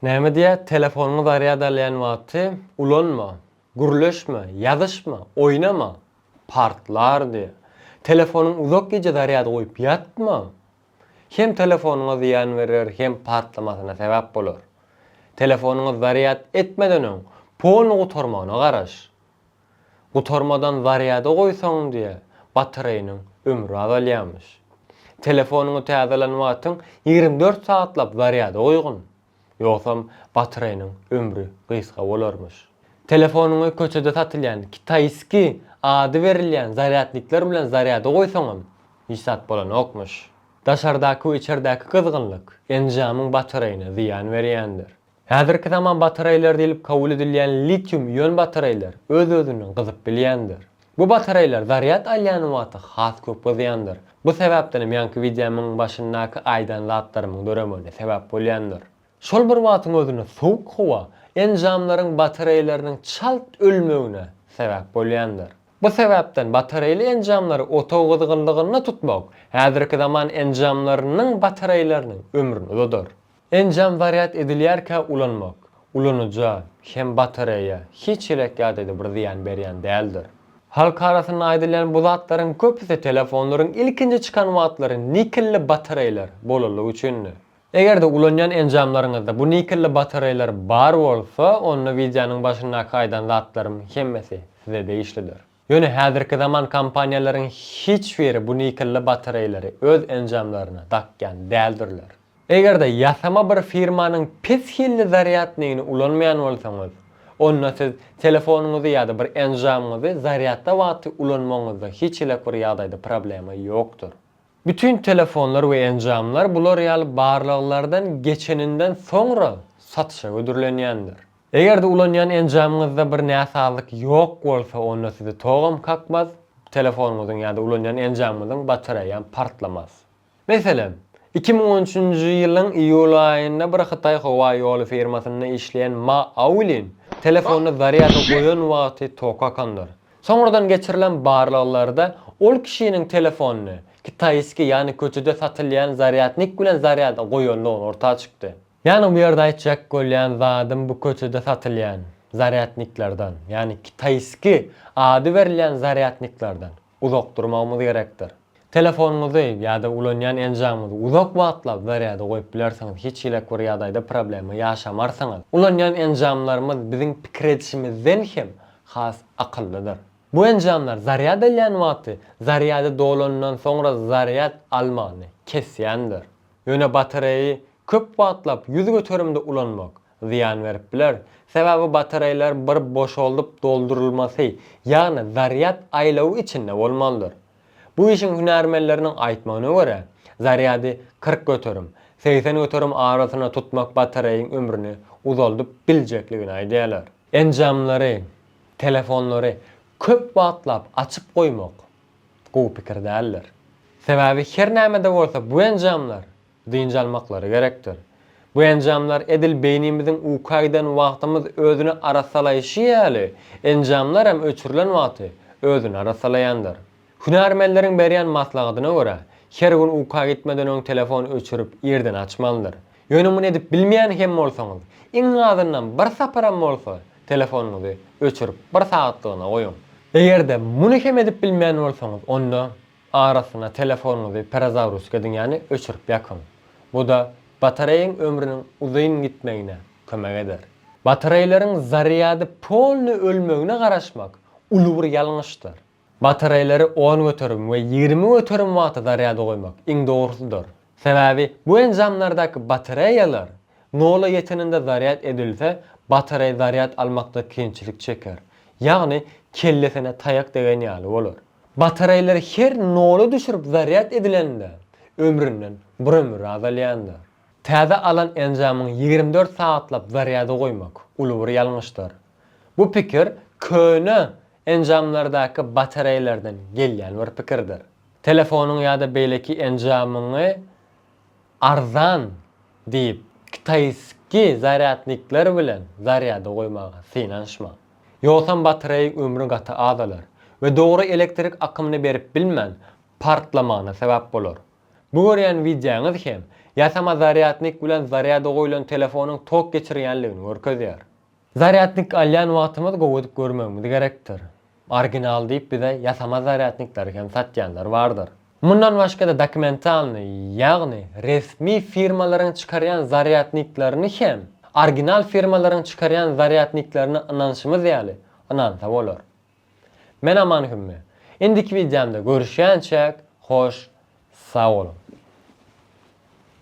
Näme diýýär, telefonyňy zarýad alýan wagty ulanma, gürleşme, ýazyşma, oýnama, partlar diýýär. Telefonyňy uzak gije zarýada goýup ýatma, hem telefonyňa zyýan berer, hem partlamasyna sebäp bolar. Telefonyňy zarýad etmeden öň, pony gutarmagyna garaş. Gutarmadan zarýada goýsaň diýe batareýniň ömri azalýarmyş. Telefonyňy täzelän wagtyň ýigrimi dört sagatlap zarýada goýgyn. Ýogsam batareýniň ömri gysga bolarmyş. Telefonyňy köçede satylýan kitaýski ady berilýän zarýadnikler bilen zarýada goýsaňam hiç zat bolanokmyş. Daşardaky we içerdäki gyzgynlyk enjamyň batareýine zyýan berýändir. Häzirki zaman batareýleri diýlip kabul edilýän litium-ion batareýler öz-özünden gyzyp bilýändir. Bu batareýler zarýad alýan wagty has köp gyzýandyr. Bu sebäpdenem ýaňky wideomyň başyndaky aýdan zatlarymyň döremegine sebäp bolýandyr. Şol bir wagtyň özünde sowuk howa enjamlaryň batareýleriniň çalt ölmegine sebäp bolýandyr. Bu sebäpden batareýli enjamlary otagyň gyzgynlygynda tutmak häzirki zaman enjamlarynyň batareýleriniň ömrüni uzadar. Enjam zarýad edilýärkä ulanmak, ulanyja, hem batareýa, hiç ýelek ýa-da-da bir zyýan berýän däldir. Halk arasynda aýdylýan bu zatlaryň köpüsi telefonlaryň ilkinji çykan wagtlary nikelli batareýler bolanlygy üçindi. Eger-de ulanýan enjamlaryňyzda bu nikelli batareýler bar bolsa, onda wideonyň başyndaky aýdan zatlarym hemmesi size degişlidir. Ýöne häzirki zaman kompaniýalaryň hiç biri bu nikelli batareýleri öz enjamlaryna dakýan däldirler. Eger-de ýasama bir firmanyň pes hilli zarýadnigini ulanmaýan bolsaňyz, onda siz telefonyňyzy ýa-da bir enjamyňyzy zarýadda wagty ulanmagyňyzda hiç hili bir ýagdaýda problema ýokdur. Bütin telefonlar we enjamlar bular ýaly barlaglardan geçeninden soňra satyşa hödürlenýändir. Eger-de ulanýan enjamyňyzda bir näsazlyk ýok bolsa, onda sizi togam kakmaz, telefonyňyzyň ýa-da ulanýan enjamyňyzyň batareýam partlamaz. Meselem, iki müň on üçünji ýylyň iýul aýynda bir hytaý howa ýoly firmasynda işleýän Ma Aulin telefonyny zarýada goýan wagty tok kakandyr. Soňradan geçirilen barlaglarda ol kişiniň telefonyny kitaýskiý, ýagny köçede satylýan zarýadnik bilen zarýada goýandygy orta çykdy. Ýani bu ýerde aýtjak bolýan zadym bu köçede satylýan zarýadniklerden, ýani kitaýski ady berilýän zarýadniklerden uzak durmagymyz gerekdir. Telefonyňyzy ýa-da ulanýan enjamyňyzy uzak wagtlap zarýada goýup bilersiňiz, hiç hili bir ýagdaýda problema ýaşamarsyňyz. Ulanýan enjamlarymyz biziň pikir edişimizden hem has akyllydyr. Bu enjamlar zarýad alýan wagty zarýady dolanyndan soňra zarýad almagyny kesýändir. Ýöne batareýi köp wagtlap ýüz göterimde ulanmak zyýan berip biler, sebäbi batareýler bir boşaldyp doldurylmasy, ýagny zarýad aýlawy içinde bolmalydyr. Bu işiň hünärmenleriniň aýtmagyna görä, zarýady kyrk göterim, segsen göterim arasynda tutmak batareýiň ömrüni uzaldyp biljekligini aýdýarlar. Enjamlary, telefonlary köp wagtlap açyk goýmak gowy pikir däldir. Sebäbi her näme-de bolsa bu enjamlar dynç almaklary gerekdir. Bu enjamlar edil beýnimiziň uka giden wagtymyz özüni arassalaýşy ýaly, enjamlar hem öçürilen wagty özüni arassalaýandyr. Hünärmenleriň berýän maslahatyna görä, her gün uka gitmeden öň telefon öçürip irden açmalydyr. Ýöne muny edip bilmeýän hem bolsaňyz, iň azyndan bir saparam bolsa telefonyňyzy öçürip bir sagatlygyna goýuň. Eger-de muny hem edip bilmeýän bolsaňyz, onda arasyna telefonyňyzy perezagruzka ediň, ýagny öçürip ýakyň. Bu-da batareýaň ömrüniň uzyn gitmegine kömek eder. Batareýleriň zarýady polny ölmegine garaşmak uly bir ýalňyşdyr. Batareýleri on göterim we ýigrimi göterim wagta zarýada goýmak, iň dogrusydyr. Sebäbi bu enjamlardaky batareýalar nola ýeteninde zarýad edilse, batareý zarýad almakda kynçylyk çeker, ýagny kellesine taýak degen ýaly bolar. Batareýleri her nola düşürip zarýad edilende, ömründen bir ömür azalýandyr. Täze alan enjamyň ýigrimi dört sagatlap zarýada goýmak, uly bir ýalňyşdyr. Bu pikir köne enjamlardaky batareýlerden gelýän bir pikirdir. Telefonyň ýa-da beýleki enjamyňy arzan diýip, kitaýski zarýadnikler bilen zarýada goýmaga synanyşma. Ýogsam batareýiň ömri gaty azalar we dogry elektrik akymyny berip bilmän, partlamagyna sebäp bolar. Bu görýän wideoňyz hem ýasama zarýadnik bilen zarýada goýlan telefonyň tok geçirýänligini görkezýär. Zarýadnik alýan wagtymyz gowy edip görmegimiz gerekdir. Original diýip bize ýasama zarýadnikleri hem satýanlar bardyr. Mundan başga-da dokumentalnyý, ýagny resmi firmalaryň çykarýan zarýadniklerini hem original firmalaryň çykarýan zarýadniklerine ynanşymyz ýaly ynansa bolar. Men Aman Hümme. Indiki wideomda görüşýänçäk, hoş sag boluň.